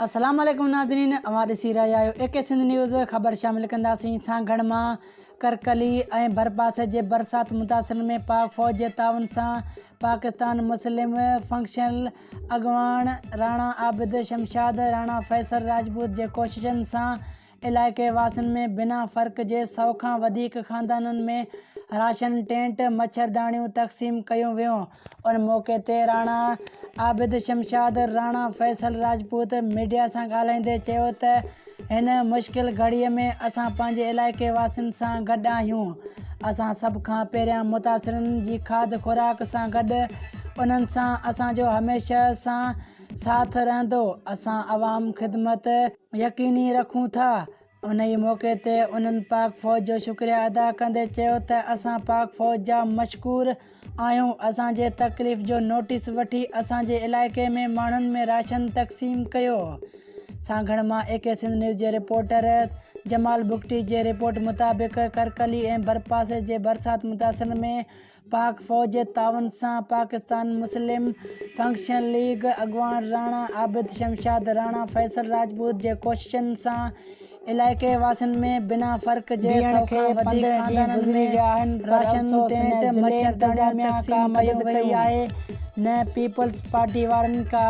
السلام عليڪم ناظرين اوهان ڏسي رهيا آهيو اي ڪي سنڌ نيوز خبر شامل ڪنداسين سانگهڙ مان ڪرڪلي ۽ ڀرپاسي جي برسات متاثرن ۾ پاڪ فوج جي تعاون سان پاڪستان مسلم فنڪشنل اڳواڻ راڻا عابد شمشاد راڻا فيصل راجپوت جي ڪوششن سان علائقي واسين ۾ بنا فرق جي سؤ کان وڌيڪ خاندانن ۾ راشن، ٽينٽ، مڇرداڻيون تقسيم ڪيون ويون. ان موقعي تي راڻا عابد شمشاد راڻا فيصل راجپوت ميڊيا سان ڳالهائيندي چيو ته هن مشڪل گهڙي ۾ اسان پنهنجي علائقي واسين سان گڏ آهيون، اسان سڀ کان پهريان متاثرن جي کاڌ خوراڪ سان گڏ انهن سان اسان جو هميشه سان ساٿ رهندو، اسان عوام خدمت. يقيني رکون ٿا. انهيء موقعي تي انهن پاڪ فوج جو شڪريا ادا ڪندي چيو ته اسان پاڪ فوج جا مشڪور آهيون، اسان جي تڪليف جو نوٽيس وٺي اسان جي علائقي ۾ ماڻهن ۾ راشن تقسيم ڪيو. سانگهڙ مان اي ڪي سنڌ نيوز جي رپورٽر جمال بگٽي جي رپورٽ مطابق ڪرڪلي ۽ ڀرپاسي جي برسات متاثرن ۾ پاڪ فوج جي تعاون سان پاڪستان مسلم فنڪشنل ليگ اڳواڻ راڻا عابد شمشاد راڻا فيصل راجپوت جي ڪوششن سان علائقي واسين ۾ بنا فرق جي سؤ کان وڌيڪ خاندانن ۾ راشن ٽينٽ مڇرداڻيون تقسيم ڪيون ويون. نه پيپلز پارٽي وارن ڪا.